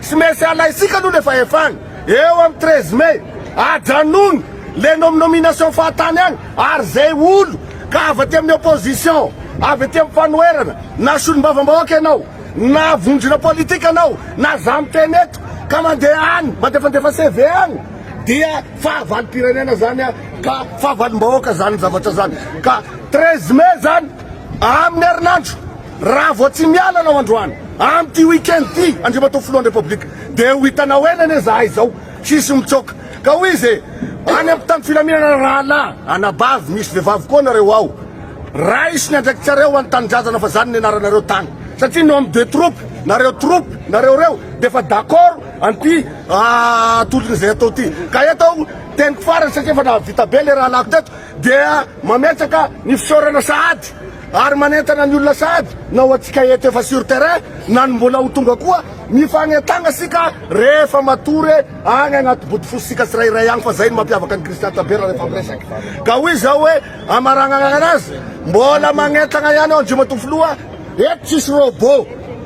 Tsy maintsy alaintsika aloha le fahefana eo am treize mai, ajanony le nom nomination fahatany any ary zay olo ka avy aty amin'ny opposition, avy aty am fanoherana, na solombavambahoaka ianao, na vondrona politika anao, na za miteny eto ka mandeha any mandefandefa CV any dia fahavalom-pirenena zany ka fahavalom-bahoaka zany zavatra zany ka treize mai zany. Amin'ny herinandro, raha vao tsy miala anao androany, amin'ity week-end ity, Andriamatoa Filohan'ny Repoblika, dia ho hitanao eny anie izahay izao, hisy mitsoaka. Ka hoy izy e, any amin'ny tany filaminana rahalahy, anabavy, misy vehivavy koa nareo ao. Raiso ny andraikitsareo ho an'ny tanindrazana fa zany nianaranareo tany. Satria ny homme de troupe, nareo troupe, nareo reo, dia efa d'accord an'ity tolona izay atao ity. Ka eto aho, teniko farany satria efa nahavita be ilay rahalahiko teto, dia mametraka ny fisaorana sahady ary manentana ny olona sahady na ho antsika eto efa sur terrain na ny mbola ho tonga koa mifanentagna sika rehefa matory agny agnaty bodofosintsika tsirairay agny fa zay ny mampiavaka ny kristian tsabera rehefa miresaka ka hoy zao hoe amaragnagna anazy mbola magnentagna ihany ao andriamatoa filoha eto tsisy robot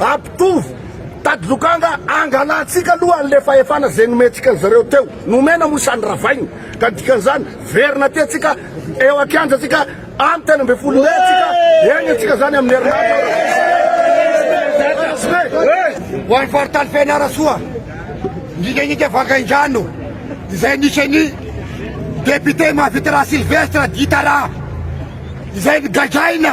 Ampitovo, tady lokanga, angalantsika aloha an'le fahefana zay nomentsika an'zareo teo, nomena moa sa noravaina, ka dikan'izany verina aty antsika eo ankianja antsika any telo ambin'ny folo mey antsika eny antsika zany amin'ny herinandro Ho an'ny faritany Fianarantsoa, Nginganginga Vangaindrano, izay anisan'ny Député Mahavitaraha Sylvestre, Gitaraha, izay nogadraina.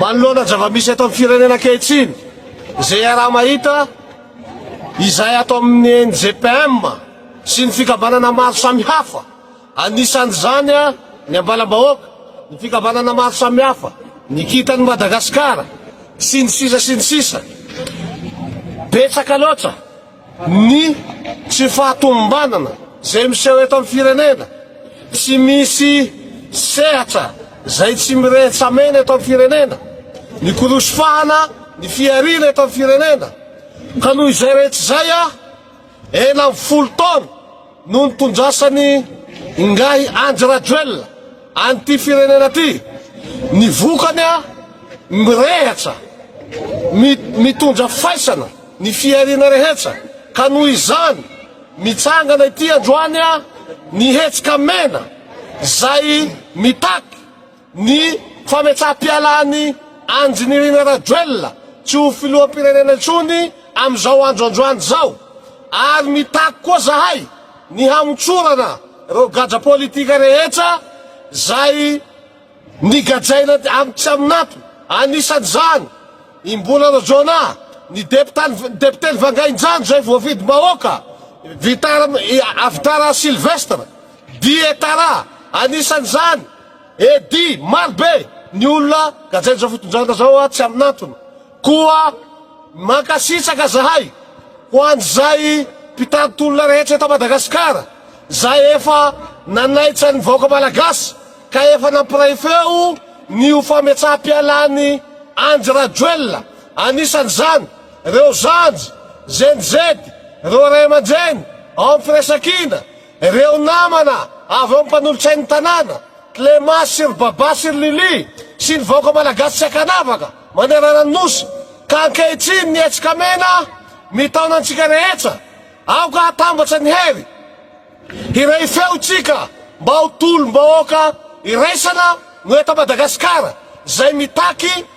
Manoloana zava-misy eto amin'ny firenena ankehitriny, izay iaraha-mahita izay ato amin'ny NGPM sy ny fikambanana maro samihafa, anisan'izany ny Ambalam-bahoaka, ny fikambanana maro samihafa, ny Kintan'i Madagasikara, sy ny sisa sy ny sisa. Betsaka loatra. Ny tsy fahatomombanana izay miseho eto amin'ny firenena, tsy misy sehatra izay tsy mirehetsamena eto amin'ny firenena, ny korosy fahana, ny fihariana eto amin'ny firenena, ka noho izay rehetra izay aho enam folo taona, Noho ny tondrasan'ny Ingahy Andry Rajoelina an'ity firenena ity, ny vokany mirehatra, mitondra faisana ny fihariana rehetra ka noho izany mitsangana ity androany ny hetsika mena izay mitaky Ny fametsaham-pialan'i Andry Nirina Rajoelina tsy ho filoham-pirenena intsony amin'izao andro androany izao ary mitaky koa zahay ny hamotsorana ireo gadra politika rehetra izay nigadraina amin'ny tsy amin'antony, anisan'izany i Mbola Rojona, ny depoteny Vangainjano izay voavidim-bahoaka, Vitara Sylvestre, Dietara, anisan'izany. Eddy, maro be ny olona gadrain'izao fitondrana zao a, tsy amin'antony. Koa mankasitraka zahay ho an'izay mpitari-tolona rehetra eto Madagasikara, zay efa nanaitra ny vahoaka Malagasy ka efa nampiray feo ny ho fametsaha-pialan'i Andry Rajoelina, anisan'izany reo zandry, zendizedy, reo ray aman-dreny ao amin'ny firaisankina, Ireo namana avy amin'ny mpanolotsain'ny tanàna, Clémence sy ry Babà sy ry Lily, sy ny vahoaka malagasy tsy ankanavaka manerana ny Nosy, ka ankehitriny ny hetsika mena mitaona antsika rehetra, aoka hatambatra ny hery, hiray feo isika mba ho tolom-bahoaka iraisana no eto Madagasikara, izay mitaky.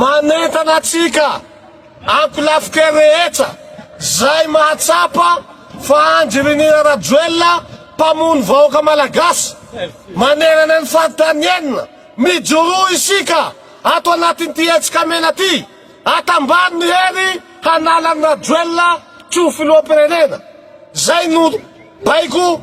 Manentana antsika ankolafika rehetra zay mahatsapa fa Andry Rinina Rajoelina mpamono vahoaka Malagasy manerana ny faritany enina, mijoroa isika ato anatin'ity hetsika mena ty, atambaro ny hery hanala an'i Rajoelina tsy ho filoham-pirenena, zay no baiko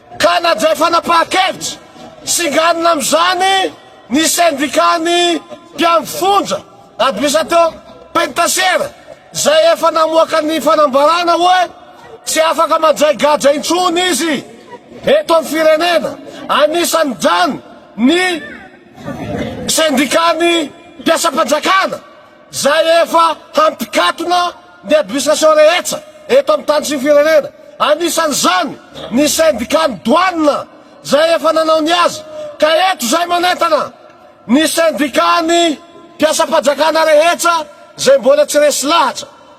Ka nandray fanapahan-kevitra singanina amin'izany ny sendikan'ny mpiambin-fonja Admisato Penitasiera izay efa namoaka ny fanambarana hoe tsy afaka mandray gadra intsony izy eto amin'ny firenena, anisan'izany ny sendikan'ny mpiasam-panjakana. Izay efa hampikatona ny administration rehetsa eto amin'ny tany sy ny firenena, anisan'izany ny syndicat-n'ny douane izay efa nanao ny azy, ka eto izay manentana ny syndicat-n'ny mpiasam-pajakana rehetsa izay mbola tsy resy lahatra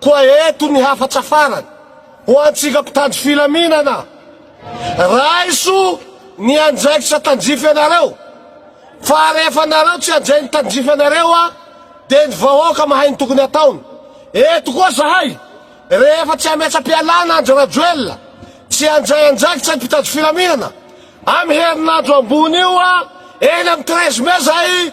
Koa eto ny hafatra farany ho antsika mpitandro filaminana, raiso ny andraikitra tandrify anareo, fa rehefa nareo tsy handray ny tandrify anareo a, dia ny vahoaka mahay ny tokony ataony, eto koa zahay rehefa tsy hametra-pialana Andry Rajoelina, tsy handray andraikitra ny mpitandro filaminana, am herinandro ambony io a, eny am treize mai zahay,